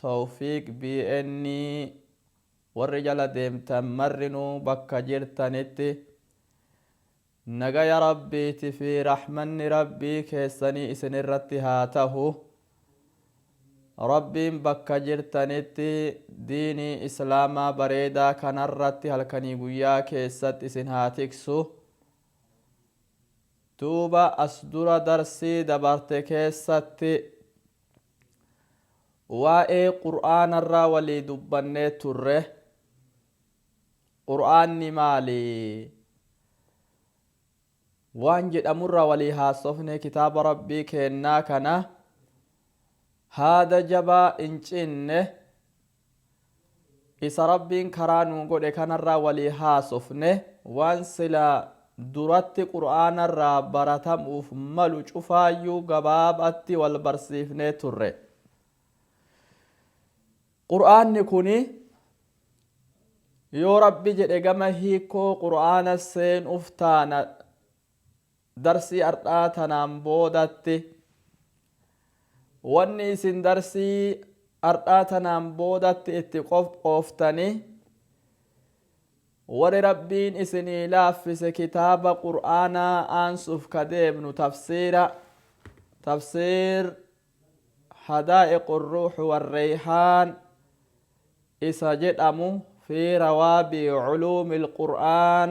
Towfiiq BN Warri jala deemtan marrinuu bakka jirtanitti Nagaya Rabbiiti fi Rahmanni Rabbii keessanii isinirratti haa tahu. Rabbiin bakka jirtanitti diinii Islaamaa bareedaa kanarratti halkanii guyyaa keessatti isin haa tiksu. Duuba as dura darsii dabarte keessatti Waa'ee Qur'aanarraa walii dubbannee turre. Qur'aanni maali? Waan jedhamurraa walii haasofne kitaaba Rabbii keennaa kana haada jabaa hin cinne Isa Rabbiin karaa nuu godhe kanarraa walii haasofne, waan silaa duratti Qur'aanarraa baratamuuf malu cufaayyuu gabaabatti wal barsiifnee turre. Qur'aanni kuni yoo Rabbi jedhe gama hiikkoo Qur'aana seenuuf taana. Darsii ardhaa tanaan boodatti wanni isin darsii ardhaa tanaan boodatti itti qophooftanii warri Rabbiin isinii laaffise kitaaba qur'aanaa aansuuf ka deemnu tafsiira tafsiir hadaa'iqu ruuxu warreeyhaan isa jedhamu fi rawaabii culuumil qur'aan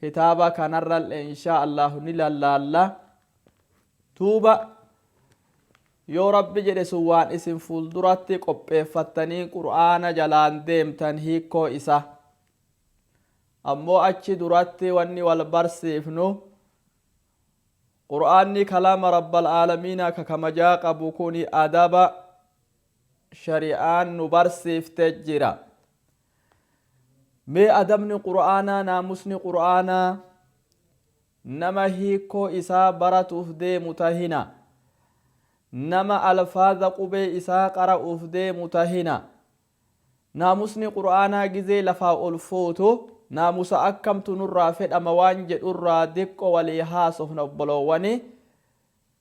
kitaaba kanarralle inshaa allaahu ni lallaalla duuba yoo rabbi jedhe sun waan isin fuulduratti qopheeffattanii qur'aana jalaan deemtan hiikkoo isa ammoo achi duratti wanni wal barsiifnu qur'aanni kalaama rabbal aalamiinaa ka kamajaa qabu kuni adaba shari'aan nu barsiifte jira Mee adabni Qur'aanaa, naamusni Qur'aanaa, nama hiikkoo isaa baratuuf deemu tahina, nama alfaaza qubee isaa qara'uuf deemu tahina. Naamusni Qur'aanaa gizee lafaa ol fuutu naamusa akkamtu nurraa fedhama waan jedhurraa diqqo walii haasofna obboloowwani.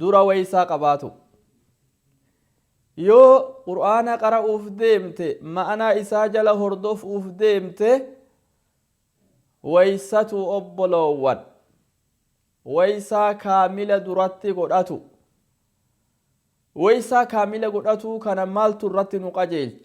dura waysaa qabaatu. Yoo qur'aana qara'uuf deemte ma'anaa isaa jala hordofuuf deemte waysatu obboloowwan waysaa kaamila duratti godhatu. Waysaa kaamila godhatuu kana maaltu irratti nu qajeelche?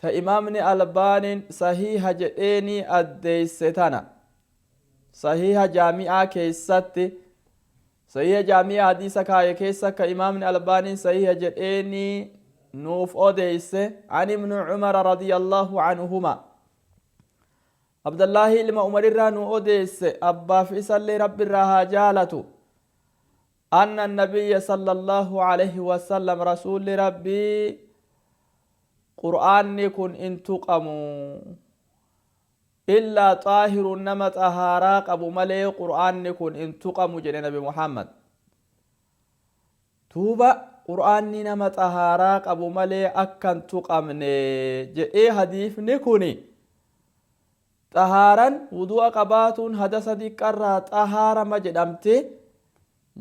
Ta imaamni Albaaniin sahiiha jedheenii addeesse tana. Sahiiha Jaami'aa keessatti Sahiiha Jaami'aa hadiisa kaaye keessa ka imaamni Albaaniin sahiiha jedheenii nuuf odeesse an ibnu Umara radiyallahu anhumaa. Abdallaahii ilma Umarirraa nu odeesse abbaaf isallee Rabbirraa haa jaalatu. Anna nabiyya sallallahu alayhi wasallam rasuulli Rabbii Qur'aanni kun hin tuqamu. Illaa xaahirun nama xahaaraa qabu malee Qur'aanni kun hin tuqamu jedhe Nabi Muhammad. Duuba Qur'aanni nama xahaaraa qabu malee akka hin tuqamne jedhee hadiifni kuni Xahaaran wudu'a qabaatuun hadasa diqqarraa xahaarama jedhamti.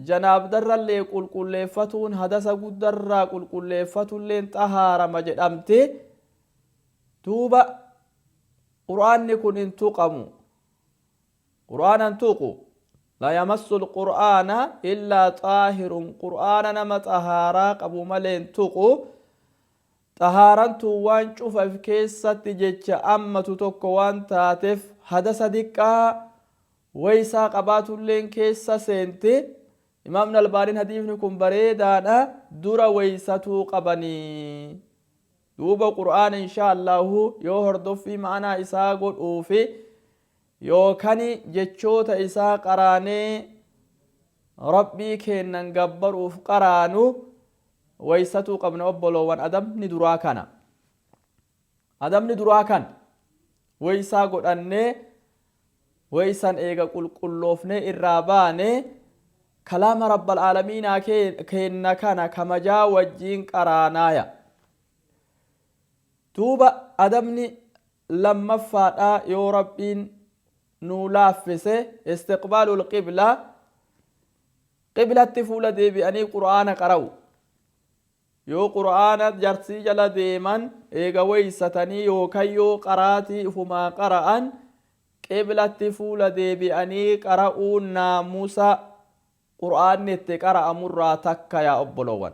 Janaabdarrallee qulqulleeffatuun hadasa guddarraa qulqulleeffatulleen xahaarama jedhamti. Duuba Qur'aanni kun hin tuqamu. Qur'aana hin tuqu. La yamassul Qur'aana illaa xaahirun Qur'aana nama xahaaraa qabu malee hin tuqu. Xahaaran tun waan cufa if keessatti jecha ammatu tokko waan taatef hadasa diqqaa waysaa qabaatulleen keessa seenti. Imaamni Albaaniin hadiifni kun bareedaadha dura waysatuu qabanii. Duuba Qur'aana inshaa Allaahu yoo hordoffii ma'anaa isaa godhuufi Yookan jechoota isaa qaraanee Rabbii keennan gabbaruuf qaraanu waysatuu qabna obboloowwan adabni duraa kana. Adabni duraa kana. Waysaa godhannee waysan eega qulqulloofnee irraa baane kalaama rabbal aalamiinaa keenna kana kamajaa wajjiin qaraanaaya. Duuba adabni lammaffaadha yoo Rabbiin nuu laaffise istiqbaalul qibla qiblatti fuula deebi'anii qur'aana qara'u yoo qur'aana jarsii jala deeman eega weeysatanii yookan yoo qaraatii ifumaa qara'an qiblatti fuula deebi'anii qara'uun naamusa qur'aanni itti qara'amurraa takka yaa obboloowan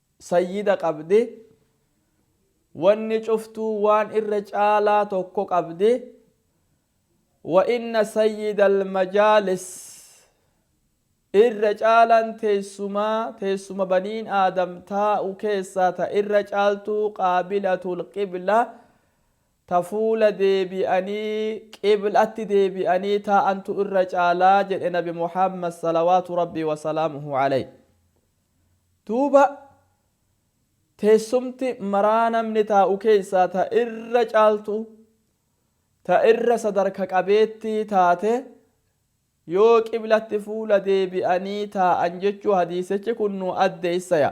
Sayyida qabdi. Wanni cuftuu waan irra caalaa tokko qabdi. Wa inna sayyidal majaalis Irra caalaan teessumaa teessuma baniin aadam taa'u keessaa ta irra caaltuu qaabilatul qibla ta fuula deebi'anii qiblatti deebi'anii taa'antu irra caalaa jedhe nabi Muhammad salawaatu rabbii wasalaamuhu alayhi. Duuba teessumti maraa namni taa'u keessaa ta irra caaltuu, ta irra sadarka qabeettii taate yoo qiblatti fuula deebi'anii taa'an jechuu hadiisichi kun nu addeessaya.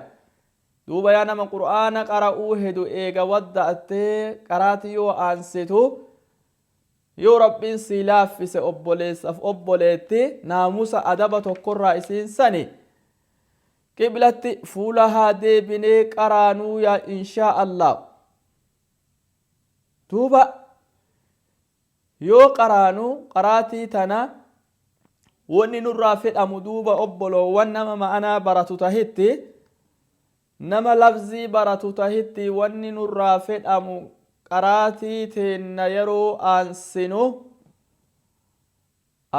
Duuba yaa nama qur'aana qara'uu hedu eega wadda'attee qaraati yoo aansitu Yoo Rabbiin sii laaffise obboleessaf obboleetti naamusa adaba tokkorraa isiin sani qiblatti fuula haa deebinee qaraanuu yaa inshaa Allaah duuba yoo qaraanu qaraatii tana wonni nurraa fedhamu duuba obboloowwan nama ma'anaa baratu tahitti Nama lafzii baratu tahitti wanni nurraa fedhamu qaraatii teenna yeroo aansinu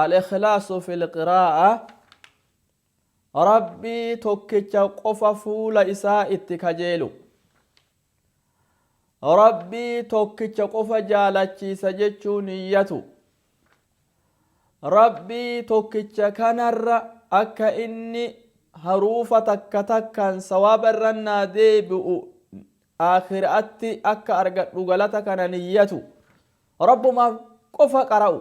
Al-ikhlaasu fil qiraa'a Rabbii tokkicha qofa fuula isaa itti kajeelu. Rabbii tokkicha qofa jaalachiisa jechuu niyyatu. Rabbii tokkicha kanarra akka inni haruufa takka takkaan sawaaba irra naa deebi'u aakhira'atti akka argadhu galata kana niyyatu. Rabbumaaf qofa qara'u.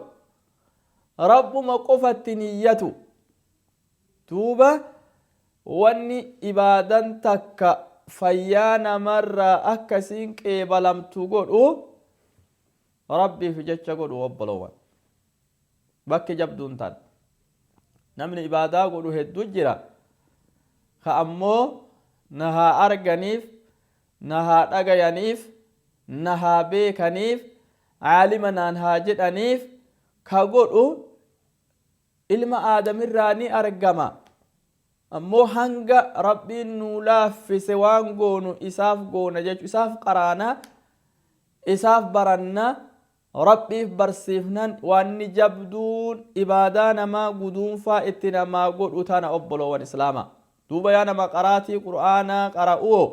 Rabbuma qofatti niyyatu. Duuba wanni ibaadan takka fayyaa namarraa akka isiin qeebalamtu godhu Rabbiif jecha godhu obboloowan. Bakki jabduun tan. Namni ibaadaa godhu heddu jira. Ka ammoo na haa arganiif, na haa dhagayaniif, na haa beekaniif, aalima naan haa jedhaniif ka godhu Ilma Aadam irraa ni argama. Ammoo hanga Rabbiin nuu laaffise waan goonu isaaf goona jechu. Isaaf qaraana, isaaf baranna, Rabbiif barsiifnan waanni jabduun ibaadaa namaa guduunfaa itti namaa godhu tana obboloowan Islaamaa. Duuba yaa nama qaraatii Qur'aanaa qara'uwoo,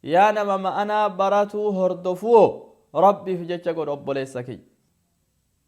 yaa nama ma'anaa baratuu hordofuwoo Rabbiif jecha godhi obboleessa kiyya.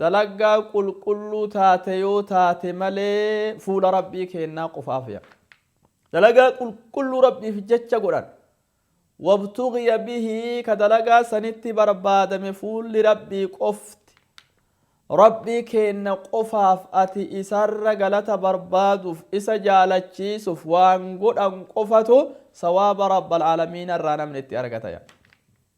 Dalagaa qulqulluu taate yoo taate malee fuula Rabbii keennaa qofaaf ya. Dalagaa qulqulluu Rabbiif jecha godhan. Wabtughiya bihi ka dalagaa sanitti barbaadame fuulli Rabbii qofti. Rabbii keenna qofaaf ati isarra galata barbaaduuf isa jaalachiisuuf waan godhan qofatu sawaaba Rabbal Aalamiina irraa namni itti argata ya.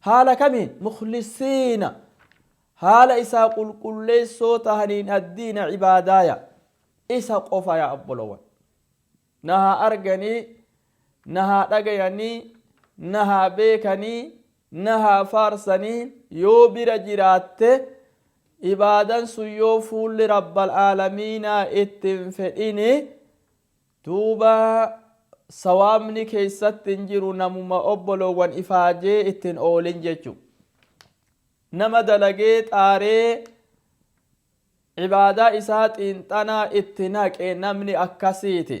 Haala kamiin? Mukhlisiina, haala isaa qulqulleessoo tahaniin addiina, cibaadaaya, isa qofa yaa obbolowan. Na haa arganii, na haa dhagayanii, na haa beekanii, na haa faarsanii yoo bira jiraatte, ibaadan sun yoo fuulli Rabbal aalamiinaa itti hin fedhini, Duuba sawaabni keessatti hin jiru namuma obboloowwan ifaajee itti hin oolin jechu. Nama dalagee xaaree ibaadaa isaa xiinxanaa itti naqe namni akkasiiti.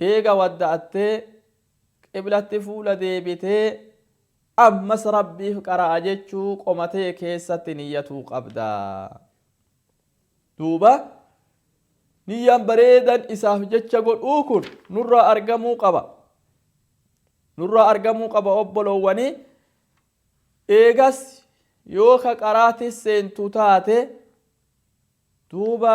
Eega wadda'attee, qiblatti fuula deebitee, ammas Rabbiif qara'a jechuu qoma tee keessatti niyyatuu qabda. Duuba niyyaan bareedan isaaf jecha godhuu kun nurraa argamuu qaba. Nurraa argamuu qaba obboloowwani. Eegas yoo ka qaraatis seentu taate duuba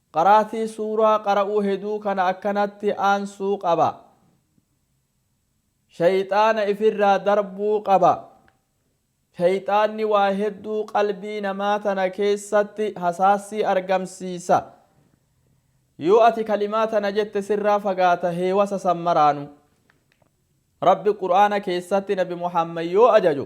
Qaraatii suuraa qara'uu heduu kana akkanatti aansuu qaba. Sheyxaana ifirraa darbuu qaba. Sheyxaanni waa hedduu qalbii namaa tana keessatti hasaassii argamsiisa. Yoo ati kalimaa tana jette sirraa fagaata heewasa san maraanu. Rabbi Qur'aana keessatti Nabi Muhammad yoo ajaju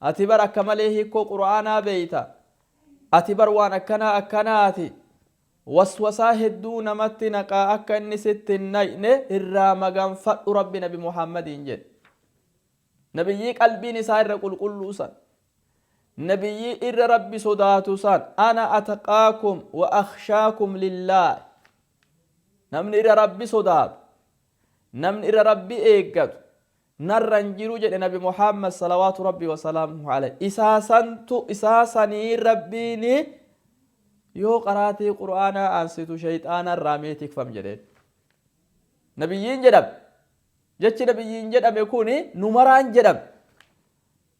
Ati bar akka malee hiikkoo qur'aanaa beeyta. Ati bar waan akkanaa akkanaati. Waswasaa hedduu namatti naqa akka inni sitti hin naqne irraa maganfadhu Rabbi nabi Muhammadiin jedhe. Nabiyyii qalbiin isaa irra qulqulluu san. Nabiyyii irra Rabbi sodaatu san. Ana ataqaakum wa akhshaakum lillaahi. Namni irra Rabbi sodaatu, namni irra Rabbi eeggatu, narra hin jiru jedhe nabi muhammad salawaatu rabbii wasalaamuhu alayhi isaa santu isaa saniin rabbiin yoo qaraatii qur'aanaa aansitu shayxaana irraa mee tikfam jedheen nabiyyiin jedhame jechi nabiyyiin jedhame kun nu maraan jedhame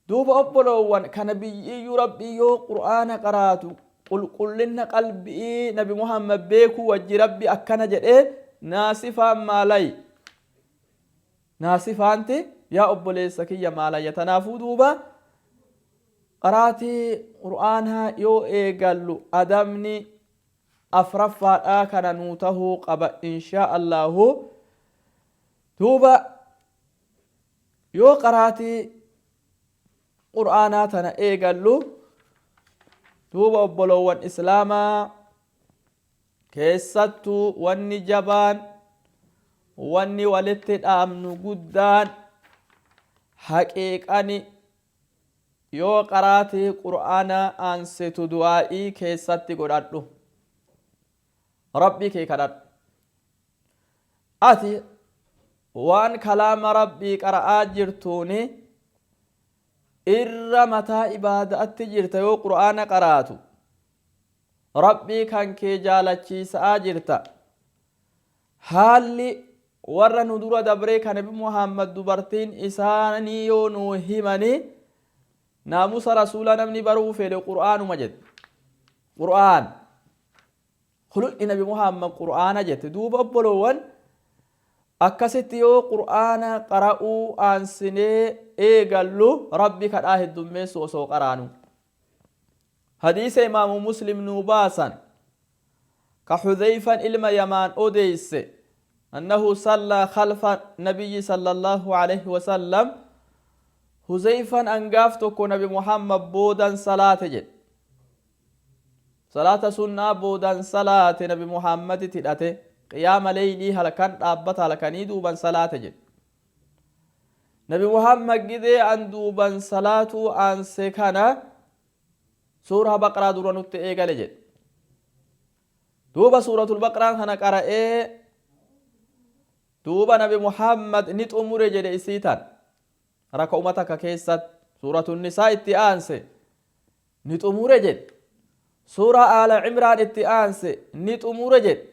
duuba obboloowwan ka nabiyyiyyuu rabbii yoo qur'aana qaraatu qulqullinna qalbii nabi muhammad beekuu wajji rabbi akkana jedhee naasifaan maalay naasifaanti yaa obboleessa kiyya maalayya tanaafuu duuba qaraatii qur'aanaa yoo eegallu adabni afraffaadhaa kana nuu tahuu qaba inshaa allaahu duuba yoo qaraatii qur'aanaa tana eegallu duuba obboloowwan islaamaa Keessattuu wanni jabaan, wanni walitti dhaamnu guddaan, haqiiqani yoo qaraatii qur'aanaa aansitu du'aa'ii keessatti godhadhu. Rabbii kee kadhadhu. Ati waan kalaama Rabbii qara'aa jirtuuni, irra mataa ibaada'atti jirta yoo qur'aana qaraatu rabbii kan kee jaalachiisa'aa jirta haalli warra nu dura dabree kan nabi muhammad dubartiin isaanii yoo nuu himanii naamusa rasuula namni baruu fedhe qur'aanuma jedhe qur'aan Khulqi nabi Muhammad Qur'aana jette. Duuba obboloowwan akkasitti yoo Qur'aana qara'uu aansinee eegallu Rabbi kadhaa heddummeessu osoo qaraanu. Hadiisa imaamu Muslim nuu baasan ka Hudhayfan ilma Yamaan odeeyse annahu sallaa khalfa nabiyyi sallallahu alayhi wa sallam Huzayfan angaaf tokko nabi Muhammad boodan salaate jedhe. Salaata sunnaa boodan salaate nabi Muhammaditti hidhate qiyaama leeylii halkan dhaabbata halkanii duuban salaate jedhe. Nabi Muhammad gidee an duuban salaatuu aanse kana suurah baqraa dura nutti eegale jedhe. Duuba suuratul baqraan kana qara'ee duuba nabi Muhammad ni xumure jedhe isii tan raka'uma takka keessatti suuratun nisaa itti aanse ni xumure jedhe. Suuraa Aala Imraan itti aanse ni xumure jedhe.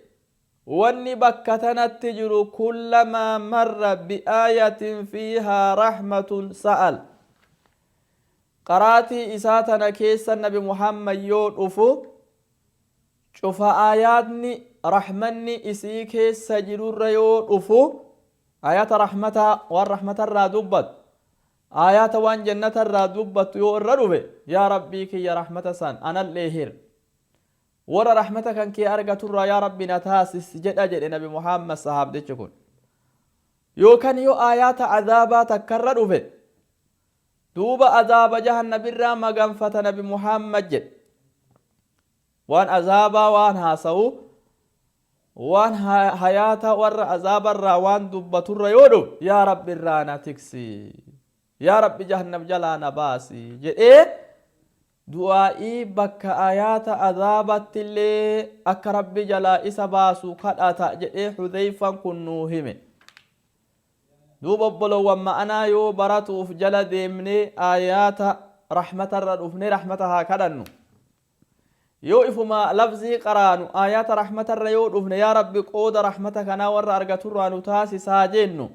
Wanni bakka tanatti jiru kullamaa marra bi'aayatin fiihaa rahmatun sa'al. Qaraatii isaa tana keessa Nabi Muhammad yoo dhufu cufa aayaatni rahmanni isii keessa jirurra yoo dhufu aayata rahmataa waan rahmatarraa dubbatu Aayaata waan jannata irraa dubbattu yoo irra dhufe, Yaa Rabbii kiyya rahmata san anallee hir. Warra rahmata kan kee argatu irraa yaa Rabbi na taasis jedha jedhe Nabi Muhammad sahaabdichi kun. Yookan yoo aayaata azaabaa takka irra dhufe, duuba azaaba jahannam irraa maganfata Nabi Muhammad jedhe. Waan azaabaa waan haasawu, waan hayaata warra azaaba irraa waan dubbatu irra yoo dhufe, yaa Rabbi irraa na tiksi, yaa Rabbi jahannam jalaa na baasi jedhee du'aa'ii bakka ayaata azaabatti illee akka Rabbi jalaa isa baasu kadhata jedhee Hudeyfan kun nuu hime. Duuba obbolowwan ma'anaa yoo baratuuf jala deemnee ayaata rahmata irra dhufnee rahmata haa kadhannu. Yoo ifuma lafzii qaraanu aayaata rahmatarra yoo dhufne yaa Rabbi qooda rahmata kanaa warra argaturraa nu taasis haa jennu.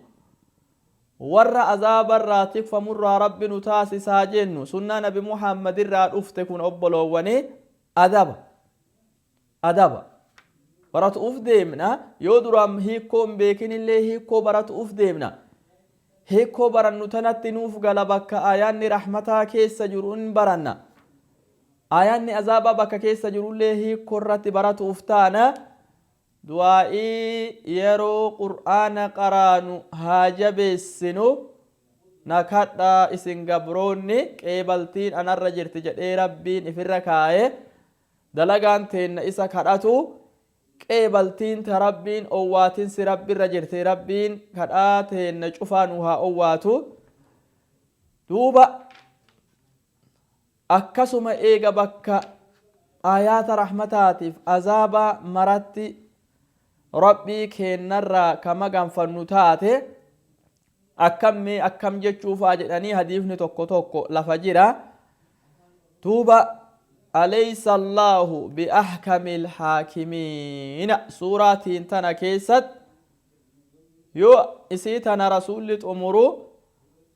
Warra azaabarraa tikfamurraa Rabbi nu taasis haa jennu. Sunnaa nabi Muhammadirraa dhufte kun obboloowwanii adaba. Adaba. Baratu'uuf deemna yoo duraan hiikkoo hin beekinillee hiikkoo baratu'uuf deemna. Hiikkoo barannu tanatti nuuf gala bakka aayaanni rahmataa keessa jiru hin baranna. Aayaanni azaabaa bakka keessa jirullee hiikkoo irratti baratu'uuf taana du'aa'ii yeroo qur'aana qaraanu haa jabeessinu na kadhaa isin gabroonni qeebaltiin anarra jirti jedhee rabbiin ifirra kaaye dalagaan teenna isa kadhatu qeebaltiin ta rabbiin owwaatinsi rabbirra jirti rabbiin kadhaa teenna cufaa nu haa owwaatu duuba Akkasuma eega bakka aayaata rahmataatiif azaabaa maratti Rabbii keennarraa ka maganfannu taate akkam mee akkam jechuufaa jedhanii hadiifni tokko tokko lafa jira. Duuba Aleysa Allaahu bi'ahkamil haakimiina suuraa tiin tana keessatti yoo isii tana rasuulli xumuru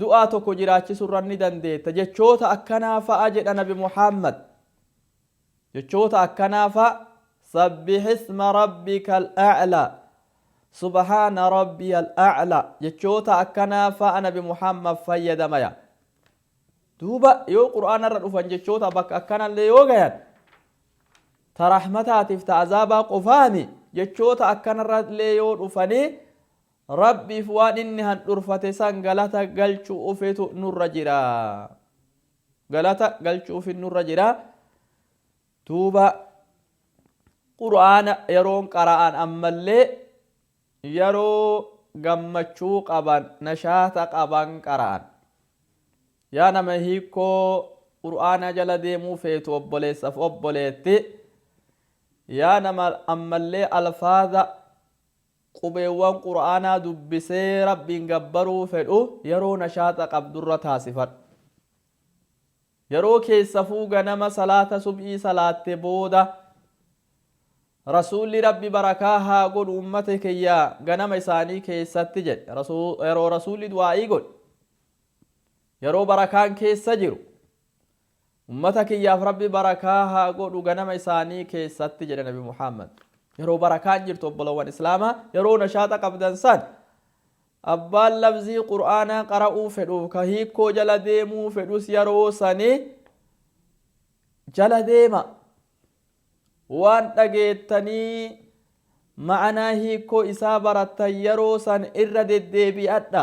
du'aa tokko jiraachisurra ni dandeetta jechoota akkanaa fa'a jedha nabi muhammad jechoota akkanaa fa'a sabbihisma rabbikal a'la subhaana rabbiyal a'la jechoota akkanaa fa'a nabi muhammad fayyadamaya duuba yoo qur'aanarra dhufan jechoota bakka akkanallee yoo gayan ta rahmataatiif ta azaabaa qofaami jechoota akkanarrallee yoo dhufanii Rabbiif waan inni handhurfate san galata galchu'ufitu nurra jira. Galata galchu'ufin nurra jira. Duuba Qur'aana yeroon qara'an ammallee yeroo gammachuu qaban, nashaata qaban qara'an. Yaa nama hiikkoo Qur'aanaa jala deemuu feetu obboleessaf obboleetti, yaa nama ammallee alfaaza, Qubeewwan Qur'aanaa dubbisee Rabbiin gabbaruu fedhu yeroo nashaaxa qabdurra taasifadhu. Yeroo keessafuu ganama salaata subhii salaatte booda. Rasuulli Rabbi barakaa haa godhu ummata kiyya ganama isaanii keessatti jedhe. Yeroo Rasuulli du'aa'ii godhu. Yeroo barakaan keessa jiru. Ummata kiyyaaf Rabbi barakaa haa godhu ganama isaanii keessatti jedhe Nabi Muhammad. Yeroo barakaan jirtu obbolowwan Islaamaa yeroo nashaaxa qabdan san abbaan labzii Qur'aanaa qara'uu fedhuuf ka hiikkoo jala deemuu fedhus yeroo sanii jala deema. Waan dhageettanii ma'anaa hiikkoo isaa barattan yeroo san irra deddeebi'adha.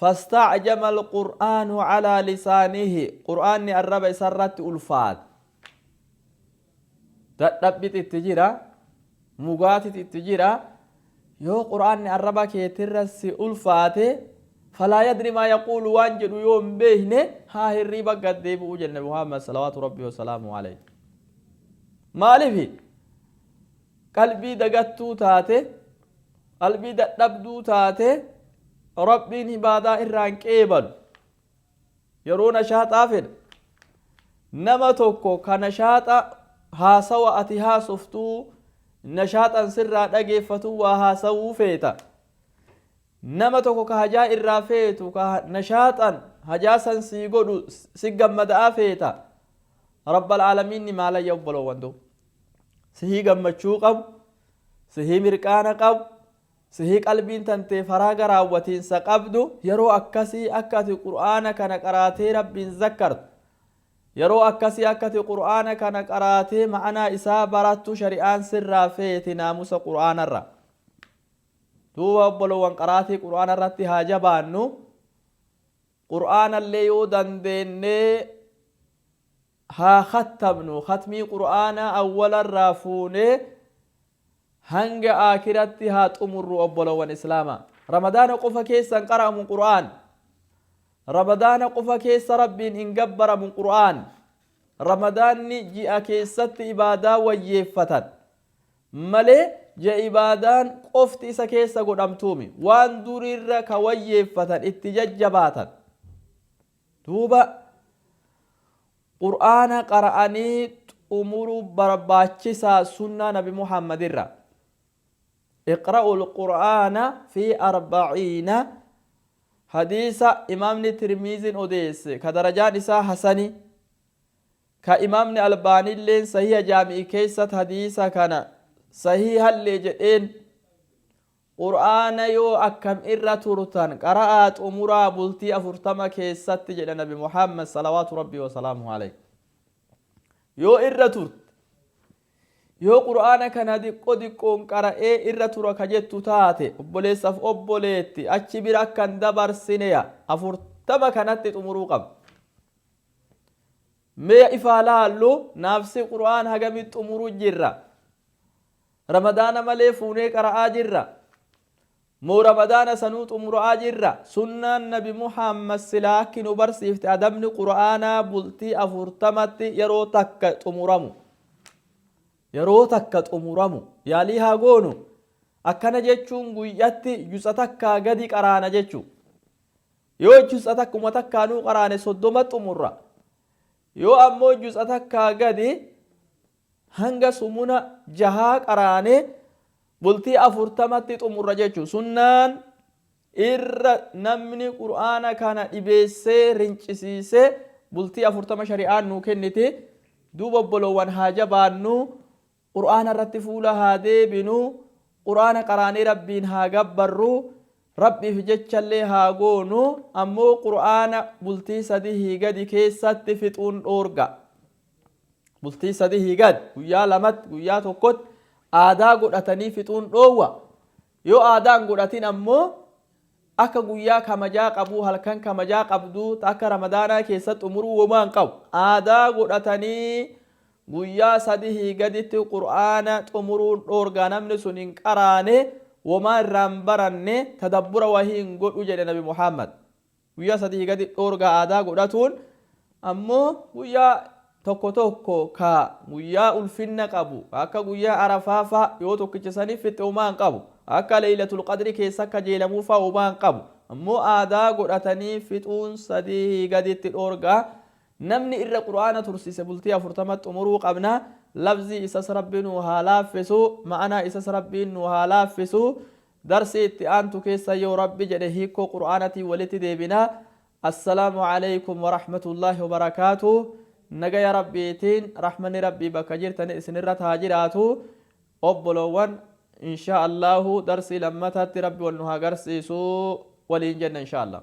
Fasta'jama Al-Qur'aanu 'alaa lisaanihi Qur'aanni arraba isa irratti ulfaate. Dadhabbitu itti jira, mugaatitu itti jira. Yoo Qur'aanni arraba keeti irra si ulfaate falaa yadri maa yaquulu waan jedhu yoo hin beekne haa hirriiba gad deebi'u jenne Muhammad salawaatu Rabbii wa salaamuhu alayhi. Maalifi? Qalbii dagattuu taate, qalbii dadhabduu taate Rabbiin ibaadaa irraa hin qeebalu. Yeroo nashaaxaa fedha. Nama tokko ka nashaaxa haasawa ati haasoftuu nashaaxan sirraa dhageeffatu waa haasawuu feeta. Nama tokko ka hajaa irraa feetu ka nashaaxan hajaa san sii godhu si gammada'aa feeta. Rabbal aalamiinni maalaya obboloowwan doo. Sihii gammachuu qabu, sihii mirqaana qabu, sihii qalbiin tantee faraa garaawwatiinsa qabdu, yeroo akkasii akka ati Qur'aana kana qaraatee Rabbiin zakkartu, yeroo akkasii akka ati Qur'aana kana qaraatee ma'anaa isaa barattu shari'aan sirraa feeti naamusa Qur'aanarra. Duuba obbolowwan qaraatii Qur'aana irratti haa jabaannu. Qur'aanallee yoo dandeennee haa khattamnu, khatmii qur'aanaa awwala irraa fuunee hanga aakiratti haa xumurru obboloowwan islaamaa. Ramadaana qofa keessa hin qara'amu qur'aan. Ramadaana qofa keessa Rabbiin hin gabbaramu qur'aan. Ramadaanni ji'a keessatti ibaadaa wayyeeffatan malee ji'a ibaadaan qofti isa keessa godhamtuumi. Waan duriirra ka wayyeeffatan itti jajjabaatan. Duuba Qur'aana qara'anii xumuruu barbaachisa sunnaa nabi Muhammad irraa. Iqra'ul Qur'aana fi arba'iina Hadiisa imaamni Tirmiiziin odeesse ka darajaan isaa hasani ka imaamni Albaaniilleen sahiiha jaami'i keessatti hadiisa kana sahiihallee jedheen Qur'aana yoo akkam irra turtan qara'aa xumuraa bultii afurtama keessatti jedha nabi Muhammad salawaatu rabbii wa salaamuhu alayhi. Yoo irra turte yoo qur'aana kana diqqo diqqoon qara'ee irra tura ka jettu taate obboleessaf obboleetti achi bira akka hin dabarsineya afurtama kanatti xumuruu qabda. Mee ifaa laallu naafsi qur'aan hagamit xumuru jirra. Ramadaana malee fuunee qara'aa jirra moo ramadaana sanuu xumura'aa jirra? Sunnaan nabi Muhammad silaa akki nu barsiifte adabni qur'aanaa bultii afurtamatti yeroo takka xumuramu yeroo takka xumuramu yaalii haa goonu akkana jechuun guyyatti juz'a takkaa gadi qaraana jechuu yoo juz'a takkuma takkaanuu qaraane soddoma xumurra yoo ammoo juz'a takkaa gadi Hanga sumuna jahaa qaraanee bultii afurtamatti xumurra jechu. Sunnaan irra namni qur'aana kana dhibeessee rincisiisee bultii afurtama shari'aan nuu kenniti. Duuba obboloowwan haa jabaannu qur'aana irratti fuula haa deebinu qur'aana qaraanee rabbiin haa gabbarru rabbiif jechallee haa goonu ammoo qur'aana bultii sadihii gadi keessatti fixuun dhoorga. bultii sadihii gad guyyaa lamatti guyyaa tokkotti aadaa godhatanii fixuun dhoowwa yoo aadaan godhatin ammoo akka guyyaa kamajaa qabuu halkan kamajaa qabduu ta akka ramadaanaa keessatti umuruu womaa hin qabu aadaa godhatanii guyyaa sadihii gaditti qur'aana xumuruun dhoorgaa namni sun hin qaraane womaa irraa hin baranne tadabbura wahii hin godhu jedhe nabi muhammad Guyyaa sadihii gadi dhoorgaa aadaa godhatuun ammoo guyyaa tokko tokko ka guyyaa ulfinna qabu ka akka guyyaa arafaa faa yoo tokkicha saniif fixxe homaa hin qabu ka akka leeylatul qadri keessa kajeelamuu faa homaa hin qabu ammoo aadaa godhatanii fixuun sadihii gaditti dhoorgaa namni irra qur'aana tursiise bultii afurtama xumuruu qabna lafzii isas rabbi nuu haa laaffisu ma'anaa isas rabbiin nuu haa laaffisu Darsii itti aantu keessa yoo rabbi jedhe hiikkoo qur'aanatiin walitti deebina. Assalaamu aleykum warahmatullaahi wabarakaatuh. Nagaya Rabbiitiin rahmanni Rabbii bakka jirtan isinirrat haa jiraatu. Obboloowwan inshaa Allaahu darsii lammataatti Rabbi wal nu haa garsiisu waliin jenna inshaa Allaah.